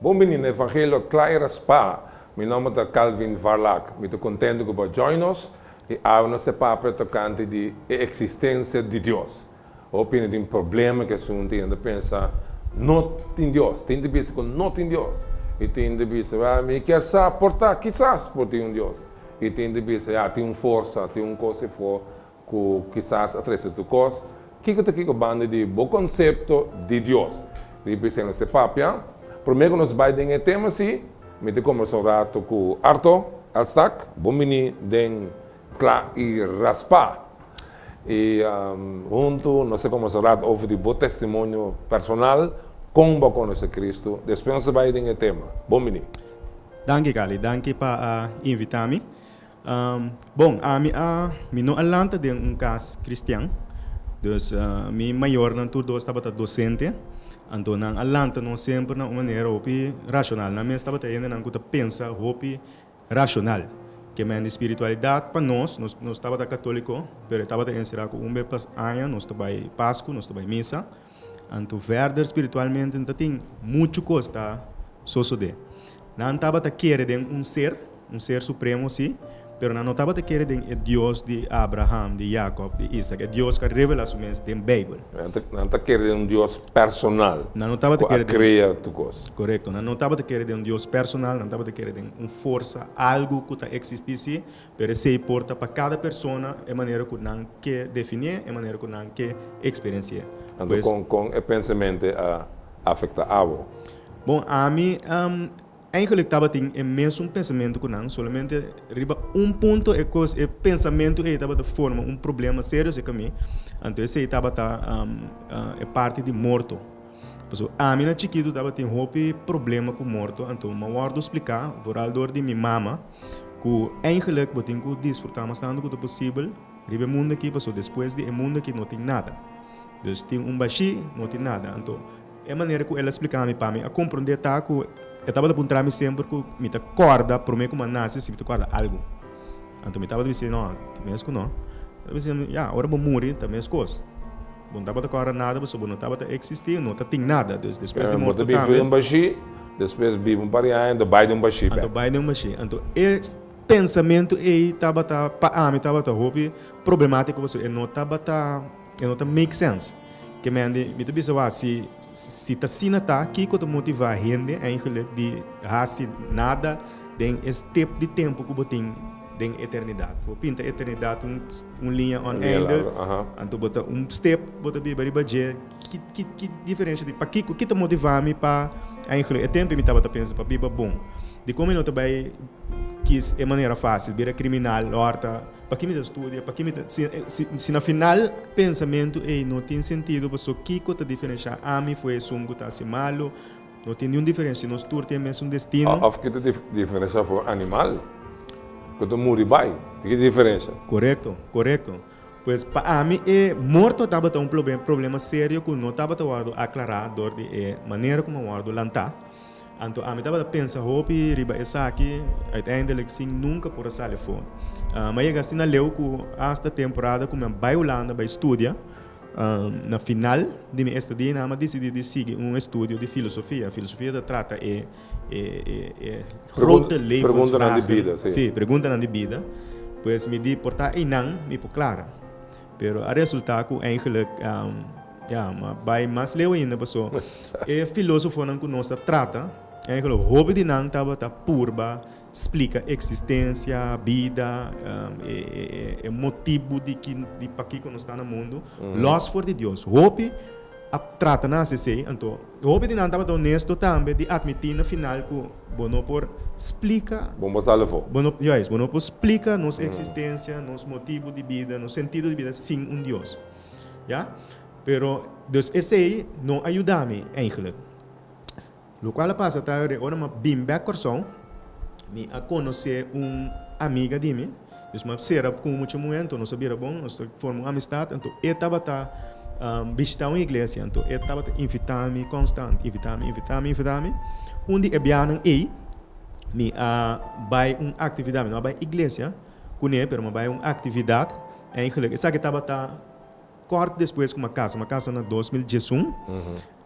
Bon bini na Evangelio Kla i Raspá. Mi nòmber ta Calvin Varlack. Mi ta kontentu ku bo a join nos i awe nos e papia tokante di e eksistensia di Dios. Hopi hende tin problema ku asuntu i nan ta pensa, No tin Dios. Tin ta bisa ku no tin Dios. I tin ta bisa, Bèl, mi kier sa por ta. Kisas por tin un Dios. I tin ta bisa, Ya, tin un forsa, tin un kos. Ku kisas a trese tur kos. Kiko ta kiko banda di bo konsepto di Dios? Riba esei nos te papia. Promé ku nos bai den e tema si, mi ta kombersa un ratu ku Arto Elstak. Bon bini den Kla i Raspá. I huntu nos ta kombersa un ratu over di bo testimonio personal kon bo a konosé Kristu. Despues nos ta bai den e tema. Bon bini. Danki Carly, danki pa invita mi. Bon, ami a, mi no a lanta den un kas kristian. Dus mi mayornan tur dos tabata dosente, anto nan a lanta nos semper na un manera hopi rashonal. Nan mes tabata hendenan ku ta pensa hopi rashonal. Ke men di spiritualidat pa nos, nos, nos tabata katoliko, pero e tabata enserá ku un be pa aña nos ta bai pasku, nos ta bai misa. Anto verder spiritualmente no ta tin muchu cos ta sosode. Nan tabata kere den un ser, un ser supremo si, pero nan no tabata kere den e Dios di Abraham, di Jacob, di Isaac, e Dios cu a revela su mes den Bijbel. Nan ta kere den un Dios personal cu a crea tur cos. Corecto. Nan no tabata kere den un Dios personal, nan tabata kere den un forsa, algo cu ta existi si, Pero esei por ta pa kada persona e manera ku nan ke definié, e manera ku nan ke eksperensié. Anto kon kon e pensemente a afektá abo? Bon, ami eigelik tabatin e mesun pensamento ku nan, solamente riba un punto e kos, e pensamentu ei tabata forma un problema serio seka mi, anto esei tabata e parti di morto. Pasobra ami na chikitu tabatin hopi problema ku morto, anto mi a wòrdu spliká, vooral dor di mi mama, Ku eindelijk bo tin ku disfrutá mas tantu ku ta posibel riba e mundu akí, pasobra despues di e mundu akí no tin nada. Dus tin un bashí, no tin nada. Anto, e manera ku el a spliká mi, pa mi a komprondé ta ku e tabata puntrá mi semper ku mi ta kòrda promé ku mi a nase si mi ta kòrda algu. Anto mi tabata bisé, No, ti mes ku no. El a bisé mi, Ya, ora bo muri ta meskos. Bo no tabata kòrda nada pasobra bo no tabata eksistí, no ta tin nada. Dus despues di morto tambe. Bo ta bin fue un bashí, despues biba un par di aña, anto bai den un bashí p'e. Anto bai den un bashí. Anto e pensamentu ei tabata, pa ami tabata hopi problemátiko pasobra e no tabata, e no ta make sense. Ke mende mi ta bisa wak si. Si ta asina ta, kiko ta motivá hende eindelijk di hasi nada den e stip di tempu ku bo tin den eternidat? Bo pinta eternidat un liña oneindig, anto bo ta un stip, bo ta biba riba dje. Ki diferensha tin? Pakiko? Ki ta motivá mi pa eindelijk? E tempu ei mi tabata pensa pa biba bon. Dikon mi no ta bai kis e manera fásil, bira kriminal lòrta? Pa ki mi ta studia? Pa ki mi ta. Si, si, si na final e pensamentu ei no tin sentido, pasobra kiko ta diferenshá ami fu esun ku ta hasi malu? No tin niun diferensha si nos tur tin e mesun destino. Òf ki ta diferenshá fu e animal ku ta muri bai? Di ki ta diferensha? Korekto, korekto. Pues pa ami e morto tabata un problema serio ku no tabata wòrdu aklará dor di e manera ku a wòrdu lantá. Anto ami tabata pensa hopi riba esaki, uiteindelijk sin nunca por a sali afo. Mi a yega asina leu cu hasta temporada cu mi a bai Hulanda bai studia, na final di mi estadia ainan mi a dicidi di sigui un estudio di filosofia. Filosofia ta trata e grote levensvragen, si, preguntanan di bida. Pues mi di por ta ainan mi por clara. Pero a resulta cu eigenlijk ya a bay mas leu ainda paso e filosofonan cu nos ta trata eigenlijk hopi di nan tabata purba splica e existencia, bida, e motibu di pakico nos ta na mundu los for di Dios. Hopi a trata nan haci esey, anto hopi di nan tabata honesto tambe di admiti na final cu. Bo no por splika. Bo por salvó. Bo no, juis, bo no por splika nos eksistensia, nos motibu di bida, nos sentido di bida sin un Dios. Ya? Pero, dus esei no a yuda mi eigentlik. Lokual a pasa ta ora mi a bin bek Kòrsou, mi a konosé un amiga di mi. Nos map sera ku un mucha muhé, anto nos a bira bon, nos ta forma un amistat, anto e tabata bishitá un iglesia, anto e tabata invitá mi konstant, invitá mi, invitá mi, invitá mi. Un di e biahanan ei mi a bai un aktividat, mi no a bai iglesia kuné, pero mi a bai un aktividat, en Higalek. Esaki tabata. Kort despues ku mi a kasa, mi a kasa na dos mil diesun,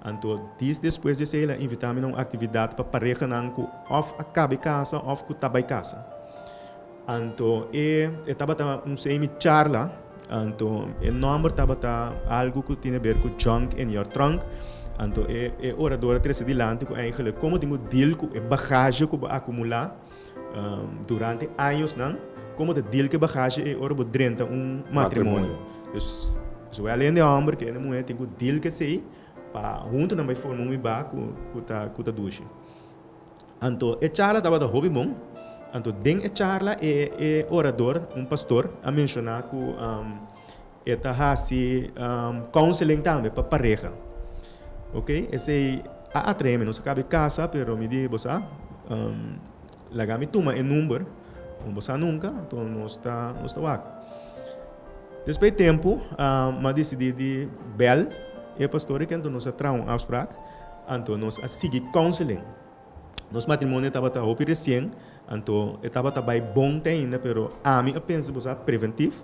anto dis despues di esei el a invitá mi na un aktividat pa parehanan ku òf a kaba e kasa òf ku ta bai kasa. Anto e e tabata un semi charla, anto e nòmber tabata algu ku tin aber ku Junk in your Trunk, anto e e orador a trese dilanti ku eigelik komo tin bo deal ku e bagashi ku bo akumulá. Durante añosnan, komo ta dil ku bagashe ei ora bo drenta un matrimonio? Dus, zowel hende hòmber ku hende muhé tin ku dil ku esei pa huntu nan bai forma un ibá ku ta dushi. Anto e charla tabata hopi bon. Anto den e charla e orador, un pastor, a menshoná ku. E ta hasi counseling tambe pa pareha. Ok, esei a atremi. Nos a caba e casa, pero mi di, Bosa, laga mi tuma e number, como bo sa nunca, enton nos ta, nos ta wak. Despues di tempo, mi a decidi di bel e pastor eken, enton nos a traha un afsprak, anto nos a sigui counseling. Nos matrimonio tabata hopi resien, anto e tabata bai bon te ainda, pero ami a pensa bo sa preventif.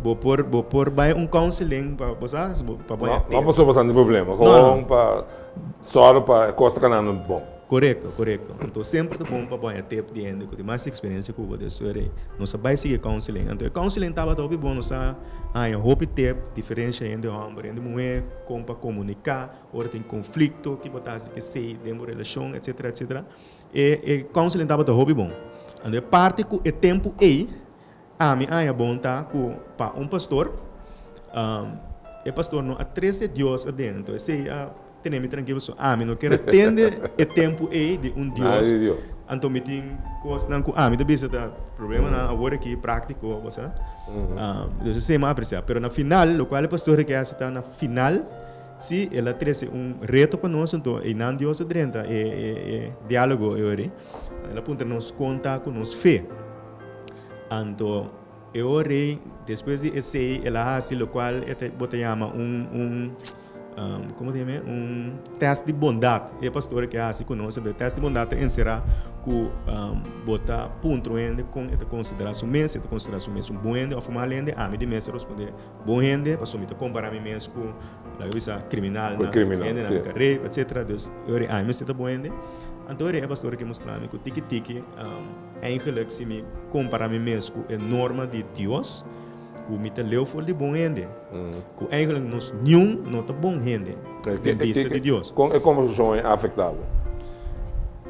Bo por, bo por bai un counseling pa, bo sa, pa bai atento. No paso bastante problema, gewoon pa sòru pa e kos ta keda nan bon. Korekto, korekto. Anto semper ta bon pa bai atep di hende ku tin mas eksperensia ku bo. Des fuera ei, nos a bai sigui e counseling. Anto e counseling tabata hopi bon, nos a haña hopi tep, diferensha hende hòmber, hende muhé, kon pa komuniká. Ora tin konflikto, ki bo ta hasi esei den bo relashon, etsetera, etsetera. E, e counseling tabata hopi bon. Anto e parti ku e tempu ei ami a haña bon ta ku pa un pastor, e pastor no a trese Dios aden. Anto esei a tene mi trankil pasobra ami no kera tende e tempu ei di un Dios. Anto mi tin kosnan ku ami ta bisa ta problemanan awor aki práktiko, bo sa. Esei mi a apresia. Pero na final, lokual e pastor a ke hasi ta na final. Sí, el a trese un reto pa nos, anto einan Dios a drenta e diálogo ei ora. El a puntra nos kon ta ku nos fe. Anto e ora ei, despues di esei, el a hasi lokual bo ta yama un, komo ta yama e? Un tèst di bondat. E pastor ke a hasi ku nos, e tèst di bondat ta enserá ku bo ta puntra un hende kon e ta konsiderá su mes, si e ta konsiderá su mes un bon hende òf un mal hende. Ami di mes a ruspundé. Bon hende, pasobra mi ta kompará mi mes ku, laga bisa, kriminalnan, hendenan ku ta rei, etsetera. Dus, e ora ei ai mester ta bon hende. Anto e pastor a ke mustra mi ku tiki tiki, eigelijk si mi kompará mi mes ku e norma di Dios, ku mi ta leu for di bon hende, ku eigelijk nos niun no ta bon hende. den bista di Dios. Kon e kombersashon ei a afektá bo?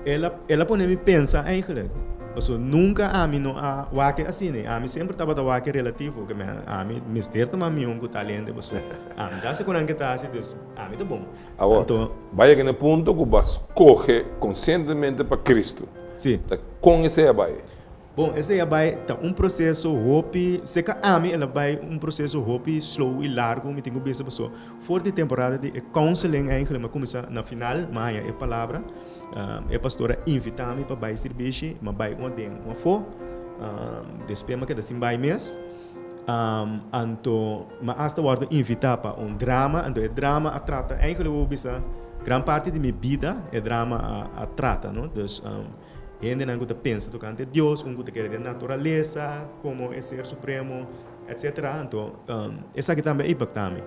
El a pone mi pensa eigenlijk, pasobra nunka ami no a wak asina. Ami semper tabata wak relativo, ke men ami mester ta mami un ku ta lente, pasobra ami ta hasi ku nan ke ta hasi, dus ami ta bon. Awor, bai yega na e punto ku bo a skohe konsientemente pa Kristu. Ta kon esei a bai? Bon, esei a bai ta un proseso hopi, si e ka ami el a bai un proseso hopi slow i largu, mi tin ku bisa paso for di temporada di e counseling ei, gulima kuminsá na final mi a haña e palabra, e pastor a invitá mi pa bai sirbishi, mi a bai ua den ua afó, despues mi a keda sin bai mes, anto mi asta wòrdu invitá pa un drama, anto e drama a trata, ei gulima bo bisa gran parti di mi bida e drama a trata, no. Hendenan ku ta pensa tokante Dios, un ku ta kere den naturalesa komo e Ser Supremo, etcetera. Anto, esaki tambe a impaktá mi.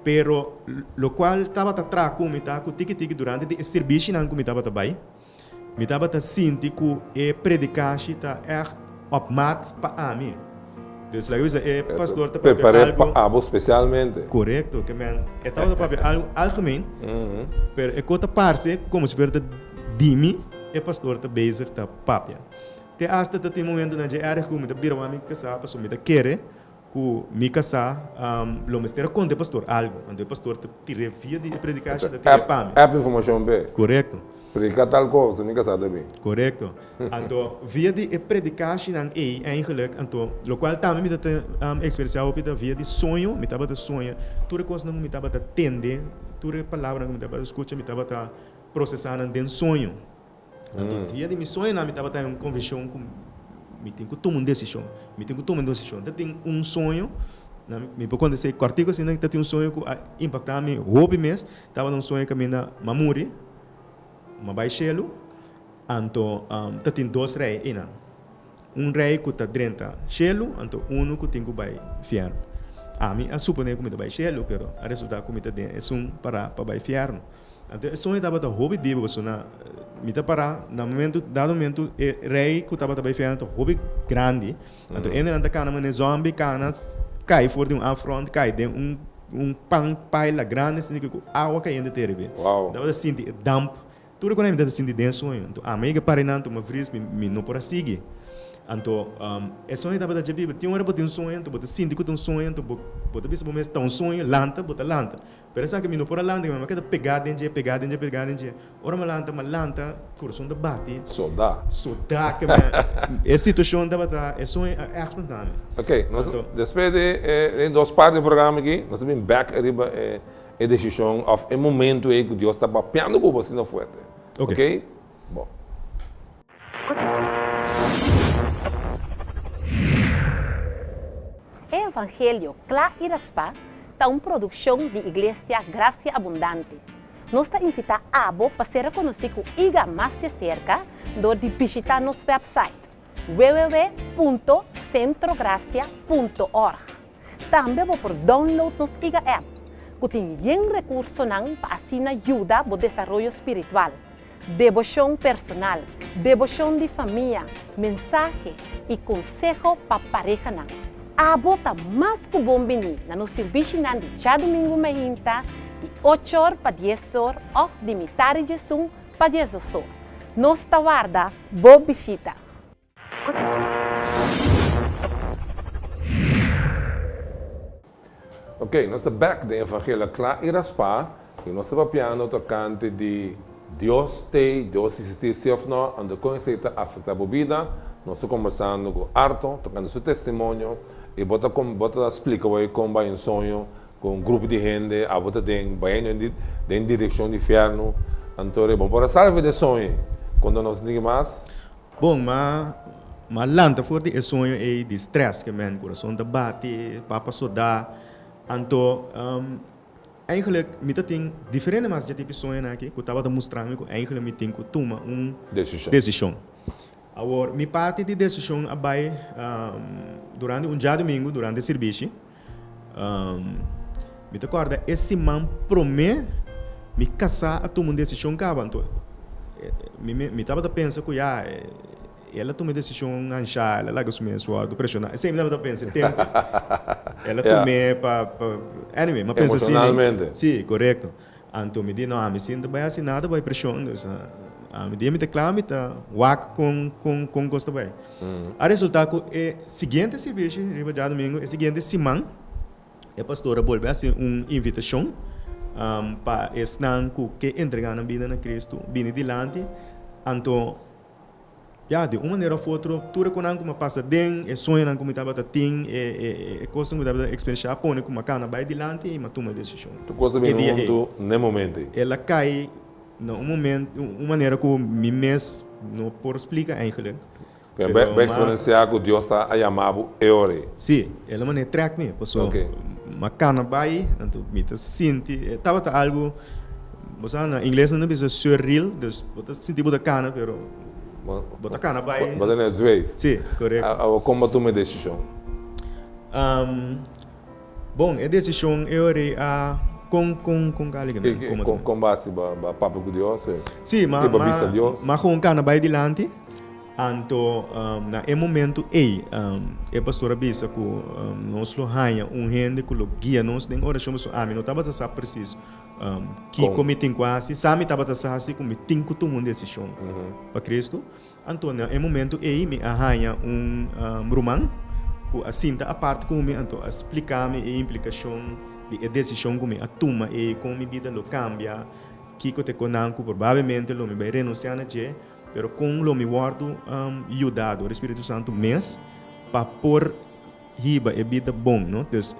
Pero, lokual tabata traha ku mi ta ku tiki tiki durante di e sirbishi nan ku mi tabata bai, mi tabata sinti ku e predikashi ta ègt. Op maat pa ami. Dus laga bisa e pastor ta papia algu. E ta prepar'é pa abo spesialmente. Korekto, ke men e tabata papia algu algemeen, pero e ko ta parse komo si fuera ta di mi e pastor ta bezig ta papia. Te asta ta tin momentonan dje èrgè ku mi ta bira wak mi kasá pasobra mi ta kere Ku mi kasá, lo mester a konta e pastor algu. Anto e pastor ta tir'é via di e predikasha, ta tir'é pa mi. App informashon p'e. Korekto. Predika tal kos, mi kasá ta bin. Korekto. Anto, via di e predikashinan ei, eingelik, anto, lokual tambe mi ta ta eksperiensá hopi ta via di soño. Mi tabata soña tur e kosnan ku mi tabata tende, tur e palabranan ku mi tabata skucha, mi tabata prosesá nan den soño. Tantu dia di mi soño nan mi tabata den un konvenshon ku mi tin ku tuma un desishon, mi tin ku tuma un desishon. Ta tin un soño, nan mi por kontes'é kòrtiku asina, ta tin un soño ku a impaktá mi hopi mes, tabata un soño kaminda m'a muri, m'a bai shelu, anto ta tin dos rei einan. Un rei ku ta drenta shelu, anto unu ku tin ku bai fièrnu. Ami a suponé ku mi ta bai shelu, pero a resultá ku mi ta den esun pará pa bai fièrnu. Anto e soño tabata hopi dibi, pasobra mi ta pará na momentu, dado momentu e rei ku tabata bai fièrnu ta hopi grandi. Anto hendenan ta kana manera zòmbi kana, kai for di un afront, kai den un un pan paila grandi, asina ku awa kayente te riba. Tabata sinti e damp. Tur e konai mi ta sinti den sueño, anto ami a ke para nan tuma vries mi mi no por a sigui. Anto e sueño tabata dje biba, tin ora bo tin un sueño anto bo ta sinti ku ta un sueño anto bo bo ta bisa bo mes ta un sueño, lanta bo ta lanta. Pero esaki mi no por a lanta mi a keda pegá den dje, pegá den dje, pegá den dje. Ora mi a lanta, mi a lanta, kurason ta bati. Sodá. Sodá ke mi a e situashon tabata e sueño a èkspantá mi. Ok, nos despe di e dos parti di e programa aki nos ta bin bèk riba e. e decision of e momento ey cu Dios ta bapeando cu bo asina fuerte. Ok. Bo. E Evangelio Cla y Raspa ta un produccion di Iglesia Gracia Abundante. Nos ta invita abo pa ser reconoci cu iga mas de cerca door di bishita nos website www.centrogracia.org. Tambe bo por download nos iga app cu tin bien recursonan pa asina yuda bo desaroyo spiritual, debocion personal, debocion di famia, mensahe y conseho pa parehanan. Abo ta mas cu bon bini na nos sirbishi-nan di djadumingu mehinta di ochor pa diezor of di mitadi djesun pa diezdosor. Nos ta warda bo bishita! Ok, nos ta bek den evangelio kla i raspá i nos ta papiando tokante di Dios t'ei, Dios sisistí sí òf nò, anto kon esei ta afektá bo bida. Nos ta kombersando ku Arthur tokante su testimonio i bo ta bo ta splika wei kon bai un soño ku un grupo di hende abo ta den bai den den direkshon di fièrnu. Anto ora e bon por a salve den soño ei konta nos niki mas? Bon, m'a m'a lanta for di e soño ei di strès ke mèn kurason ta bati, papa sudá. Anto eingelik mi ta tin diferente mas dje tipi soñonan aki ku tabata mustrami ku eingelik mi tin ku tuma un desishon. Awor mi parti di desishon a bai durante un djadumingu durante sirbishi. Um, mi ta corda e siman prome mi casá a tuma un decision caba. Anto, eh, mi, mi, mi tabata pensa cu ya, eh, ela tuma e decision ansha, ela laga su mes wordo presiona. Esei mi tabata pensa tempe. Ela Ya. tume pa, pa, anyway, mi a pensa asina. Emocionalmente. Sí, correcto. Anto mi di, No, ami sin ta bai hasi nada bai prishon. Dus, ami dia mi ta kla mi ta wak kon, kon, kon kos ta bai. A resultá ku e siguiente sirbishi riba diadumingu, e siguiente siman, e pastor a bolbe a hasi un invitashon pa esnan ku ke entregánan bida na Kristu bini dilanti. Anto. Ya, di un manera of otro, tur e konan ku mi a pasa den e soñonan ku mi tabata tin, e kosnan ku mi tabata eksperenshá, a pone ku mi a kana bai dilanti i mi a tuma e desishon. Tur kos ta bini huntu na e momentu ei. El a kai na un moment, un manera ku mi mes no por splika eigentlik. Pero mi a eksperensiá ku Dios ta a yama bo e ora ei. Sí, el a manda e trèk mi, pasobra mi a kana bai, anto mi ta sinti, tabata algu. Bo sa na ingles nan ta bisa surreal, dus bo ta sinti bo ta kana pero bo ta kana bai. Bo ta na e zwei. Si, korekto. Awa kon bo tuma e desishon? Bon, e desishon e ora ei a kon kon kon kali ke nan kuma ta. Kon bo a hasi? Bo a papia ku Dios? Si, ma bo a bisa Dios? Ma gon kana bai dilanti, anto na e momento ei e pastor a bisa ku nos lo haña un hende ku lo guia nos den orashon pasobra ami no tabata sa presis Kiko mi tin ku hasi? Sa mi tabata sa hasi ku mi tin ku tuma un desishon pa Kristu. Anto na e momentu ei mi a haña un ruman ku a sinta apart ku mi, anto a splika mi e implikashon di e desishon ku mi a tuma ei, kon mi bida lo kambia, kiko ta e konan ku probablemente lo mi bai renunsiá na dje, pero kon lo mi wòrdu yudadu di Spiritu Santu mes pa por. Hiba e bida bon, no? Dus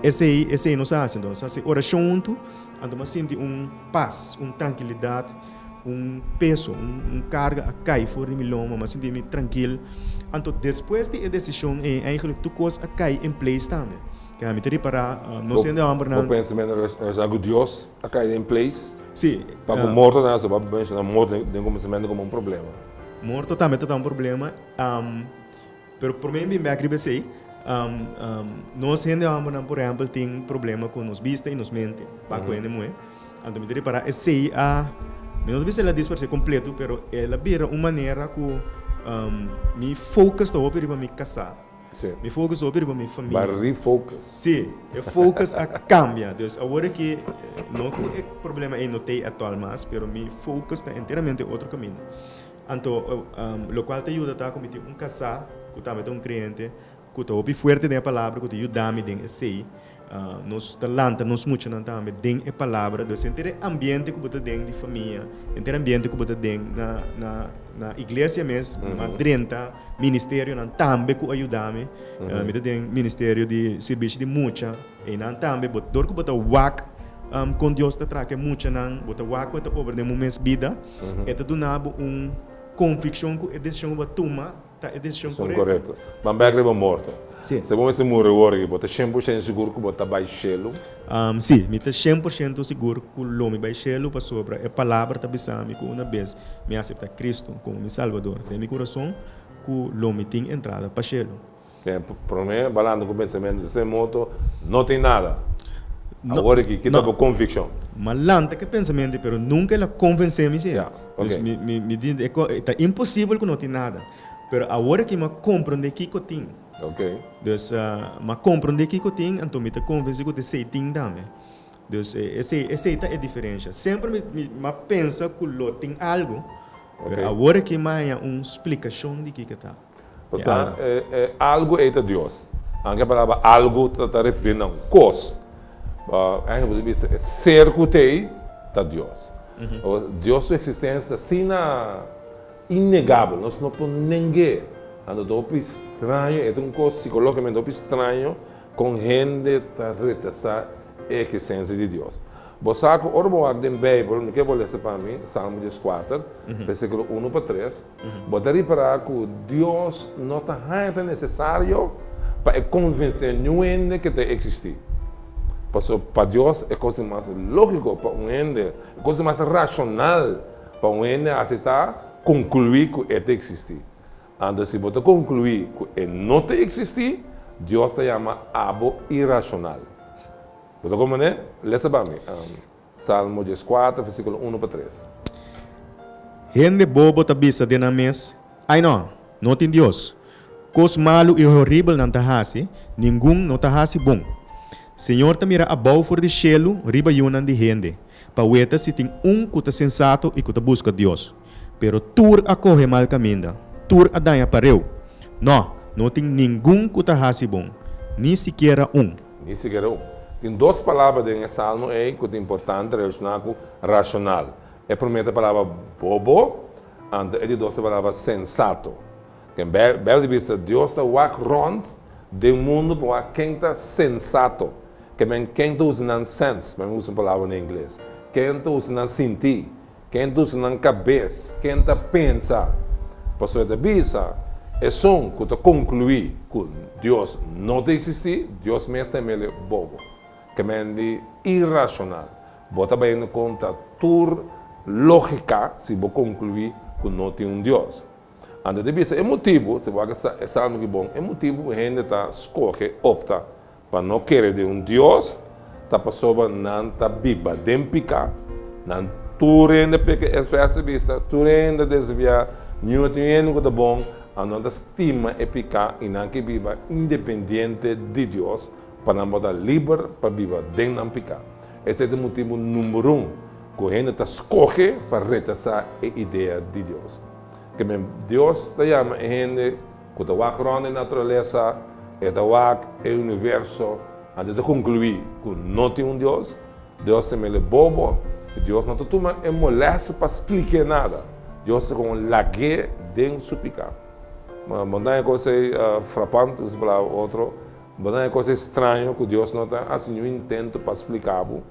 esei, esei nos a hasi anto. Nos hasi orashon huntu, anto bo a sinti un pas, un trankilidat, un peso, un karga a kai for di mi lomba. Mi a sinti mi trankil. Anto despues di e desishon ei, eigenlijk tur kos a kai en place tambe. Kende mi ta ripará, nos hende hòmbernan. Bo pensa meda orashon ku Dios a kai den place? Sí. Pa ku morto tambe así? Bo a menshoná morto den kuminsamentu komo un problema. Morto tambe ta un problema. Pero prome mi bin bek riba esey, nos hende hombernan por ehempel tin problema cu nos bista y nos mente, pa cu hende muhé. Anto mi ta repara esey a, mi no ta bisa el a disparesé completo, pero el a bira un manera cu mi focus ta hopi riba mi casá, mi focus ta hopi riba mi famia. Ba refocus. Sí, e focus a cambia. Dus awor aki no cu e problema ey no t'ey actual mas, pero mi focus ta enteramente otro caminda. Anto, lokual ta yuda ta ku mi tin un kasá ku tambe ta un kreente ku ta hopi fuerte den e palabra, ku ta yuda mi den esei. Nos ta lanta nos muchanan tambe den e palabra. Pues henter e ambiente ku bo ta den di famia, henter e ambiente ku bo ta den na iglesia mes, mi a drenta ministerionan tambe ku a yuda mi. Mi ta den ministerio di sirbishi di mucha. Einan tambe bo, dor ku bo ta wak kon Dios ta traha ku e muchanan, bo ta wak ku e ta obra den bo mes bida, e ta duna bo un konvikshon ku e desishon ku bo a tuma ta e desishon korekto. M'a bèk riba morto. Si bo mester muri awor aki, bo ta shen por shento sigur ku bo ta bai shelu? Si, mi ta shen por shento sigur ku lo mi bai shelu pasobra e Palabra ta bisa mi ku una bes mi a aseptá Kristu komo mi Salbador den mi kurason, ku lo mi tin entrada pa shelu. Ten prome balando cu pensamentonan sin moto no tin nada. Awor aki kita bo conviccion. M'a lanta cu e pensamentonan pero nunca el a convence mi sin. Dus mi di e ta imposible cu no tin nada. Pero awor aki m'a comprende kico tin. Dus m'a comprende kico tin anto mi ta convenci cu t'esey tin tambe. Dus esey ta e diferencia. Semper m'a pensa cu lo tin algo pero awor aki m'a haña un splicacion di kico ta. Pasá, e algu ei ta Dios. Anke e palabra algu ta referí na un kos, ain bo ta bisa e ser ku ta ei ta Dios. Dios su eksistensia ta asina innegabel, nos no por neng'é. Anto ta hopi straño, e ta un kos sikológikamente hopi straño kon hende ta retesá e eksistensia di Dios. Bo sa ku ora bo wak den Beibel, mi ke bo lesa pa mi Salmo dies kuater, versíkulo unu pa tres. Bo ta repará ku Dios no ta haña ta nesesario pa e konvensé niun hende ke ta eksistí. Pasobra pa Dios e kos di mas lógiko pa un hende, e kos di mas rashonal pa un hende hasi ta konkluí ku e ta eksistí. Anto si bo ta konkluí ku e no ta eksistí, Dios ta yama abo irashonal. Bo ta komprendé? Lesa pa mi. Salmo dieskuater, versíkulo unu pa tres. Hende bobo ta bisa den nan mes, Ai nò! No tin Dios. Kos malu i horibel nan ta hasi, ningun no ta hasi bon. Señor ta mira abou for di shelu riba yunan di hende, pa weta si tin un ku ta sensato i ku ta buska Dios. Pero tur a kohe mal kaminda, tur a daña pareu. No, no tin ningun ku ta hasi bon, ni sikiera un. Ni sikiera un. Tin dos palabra den e salmo ei ku ta importante relashoná ku rashonal. E promé ta palabra bobo, anto e di dos ta palabra sensato. Den Beibel di bista Dios ta wak rònt den mundu pa wak ken ta sensato, ke men ken ta usa nan sens, men usa un palabra na ingles, ken ta usa nan sinti, Ken ta usa nan kabes? Ken ta pensa? Pasobra e ta bisa, Esun ku ta konkluí ku Dios no ta eksistí, Dios mes ta mele bobo. Kemendi irashonal! Bo ta bayendo kontra tur lógika si bo konkluí ku no tin un Dios. Anto e ta bisa, E motibu, si bo wak e salmo aki bon, e motibu ku hende ta skohe, opta, Pa no kere di un Dios ta pasoba nan ta biba den piká. Nan tur hende peka. Es vèrs ta bisa, Tur hende a desviá, niun tin hende ku ta bon. Anto nan ta stima e piká i nan ke biba independiente di Dios pa nan por ta liber pa biba den nan piká. Esei ta e motibu number un ku hende ta skohe pa rechasá e idea di Dios. Ke men, Dios ta yama e hende. Ku ta wak rònt e naturalesa, e ta wak e universo, anto e ta konkluí ku no tin un Dios. Dios ta mele bobo i Dios no ta tuma e molesto pa spliké nada. Dios ta kon un lag'é den su piká. Bo ta haya kos ei frapante, un palabra u otro. Bo na e cos estraño cu Dios no ta haci niun intento pa splica bo?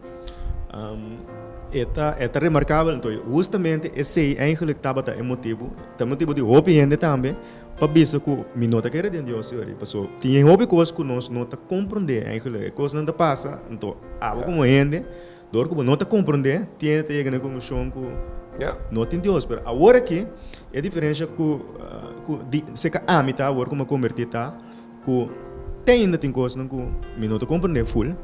E ta remarcabel anto, hustamente esey eigenlijk tabata e motibo, ta e motibo di hopi hende tambe pa bisa cu mi no ta kere den Dios yori, paso tin e hopi cos cu nos no ta comprende eigenlijk. E cosnan ta pasa, anto abo como hende, dor cu bo no ta comprende, tiene ta yega na e conclusion cu no tin Dios. Pero awor aki e diferencia cu di, seca ami ta awor cu mi a converti ta. Ku te ainda tin kosnan ku mi no ta komprendé ful,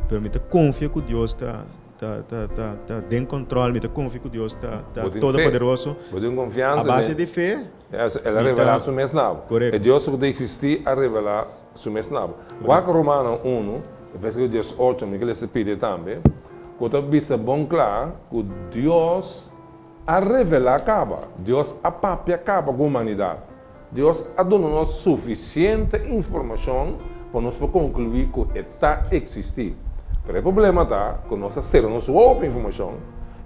pero mi ta konfia ku Dios ta ta ta ta ta den kontrol, mi ta konfia ku Dios ta ta Bo tin fe. todopoderoso. Bo tin konfiansa A base den. di fe, E as- El a Mi ta- revelá su mes na bo. Correcto. E Dios ku ta eksistí a revelá su mes na bo. Wak Romano unu, vèrsikulo dies ocho, mi ke lesa pide tambe, ku ta bisa bon kla ku Dios, a revelá caba, Dios a papia caba cu humanidad. Dios a duna nos suficiente informacion pa nos por conclui cu e ta existi. Pero e problema ta cu nos a cera nos wou pa informacion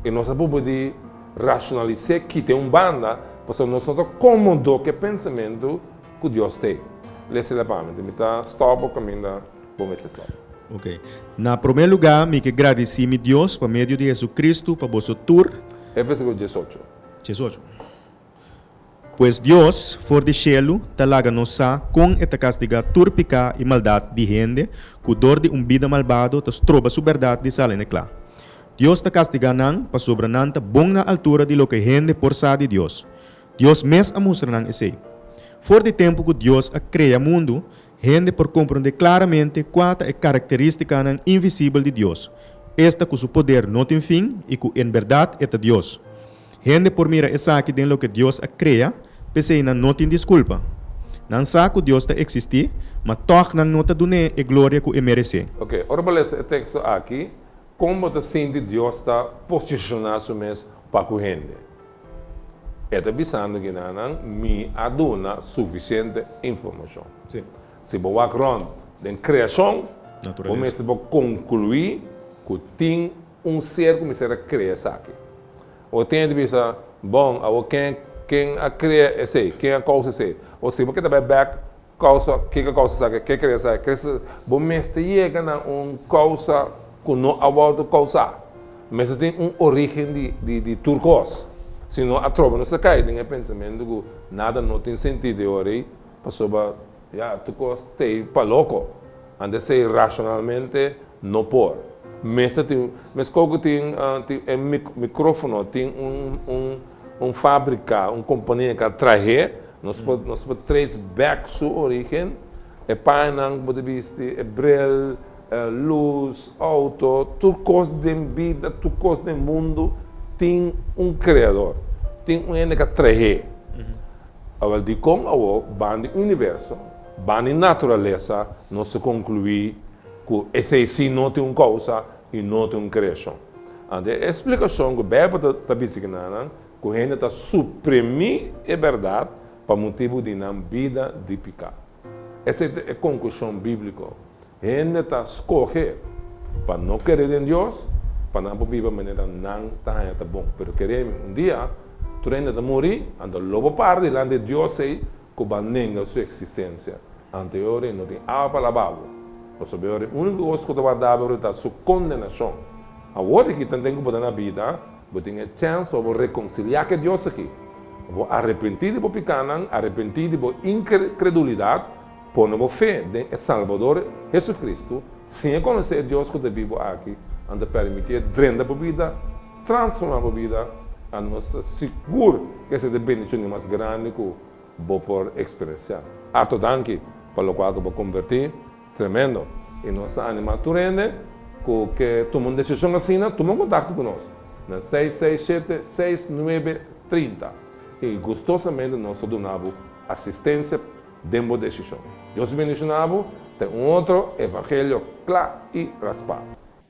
y nos a probo di racionalis'e kit'e un banda pasobra nos no ta comodo cu e pensamentu cu Dios t'e. Lees'e la pa mi, mi ta stopa caminda. bo mester stòp. Ok. Na promé lugá mi ke gradisí mi Dios pa medio di Hesukristu pa boso tur. E Versíkulo diesocho. Diesocho. Pues Dios, for di shelu, ta laga nos sa kon e ta kastigá tur piká i maldat di hende ku dor di un bida malbado ta stroba su bèrdat di sal'e n'e kla. Dios ta kastigá nan pasobra nan ta bon na altura di loke hende por sa di Dios. Dios mes a mustra nan esei. For di tempu ku Dios a krea mundu, Hende por komprondé klaramente kua ta e karakterístikanan invisibel di Dios, esta ku su poder no tin fin i ku en bèrdat e ta Dios. Hende por mira esaki den loke Dios a krea, p'esei nan no tin diskulpa. Nan sa ku Dios ta eksistí, ma tòg nan no ta dun'é e gloria ku e meresé. Oke, ora bo lesa e teksto akí, kon bo ta sinti Dios ta posishoná su mes pa ku hende? E ta bisando guinanan, Mi a duna sufisiente informashon. Si bo wak rònt den kreashon, bo mester por konkluí ku tin un ser ku mester a krea esaki. Bo tin di bisa, Bon, awor ken a krea esei? Ken a kousa esei? O si bo ke ta bai bèk Kousa, Ke ta kousa esaki? Ke kre esaki? Kre sa bo mester yega na un kousa ku no a wòrdu kousá. Mester tin un orígen di tur kos. Si no atroba nos ta kai den e pensamentu ku nada no tin sentido e ora ei, pasobra ya tur kos ta ei pa loko. Anda sei racionalmente no por. Mester tin un, mescua cu tin tin e microfono tin un un un fabrica, un compania ca trahe, nos por nos por trace back su origen, e payanan cu bo ta bisti, e bril, e luz, auto, tur cos den bida, tur cos den mundo tin un creador, tin un hende ca trahe. Awor dicon awor bandi universo Bani naturalesa nos ta conclui cu esey si no tin un causa y no tin un creacion. Ante e explicacion cu Bijbel ta bisti cu nanan cu hende ta suprimi e berdad pa motibu di nan bida di pica. Esey ta e conclusion biblico, hende ta scoge pa no cre den Dios pa nan por biba manera nan ta haya ta bon. Pero cremi, un dia tur hende ta muri, anto lo bo para dilanti e Dios ey. ku ban nenga su eksistensia. Ante e ora i no tin awa pa lababo, pasobra e ora e úniko kos ku ta wardab'e ora ta su kondenashon. Awor aki tanten ku bo ta na bida, bo tin e chèns pa bo rekonsiliá ku e Dios aki, pa bo arepentí di bo pikánan, arepentí di bo inkredulidat, pone bo fe den e Salbador, Hesukristu. Sin e konosé e Dios ku ta bibu aki, nan ta pèrmití e drenta bo bida. transforma bo bida, anor sta sigur ku esei ta e bendishon di mas grandi ku bo por eksperensiá. Arto danki pa lokual ku bo kombertí. Tremendo! I nos ta animá tur hende ku ke tuma un desishon asina tuma un kontakto ku nos na seis seis shete seis nuebe trinta i gustosamente nos ta duna bo asistensia den bo desishon. Dios bendishoná bo. Ta e un otro evangelio kla i raspá.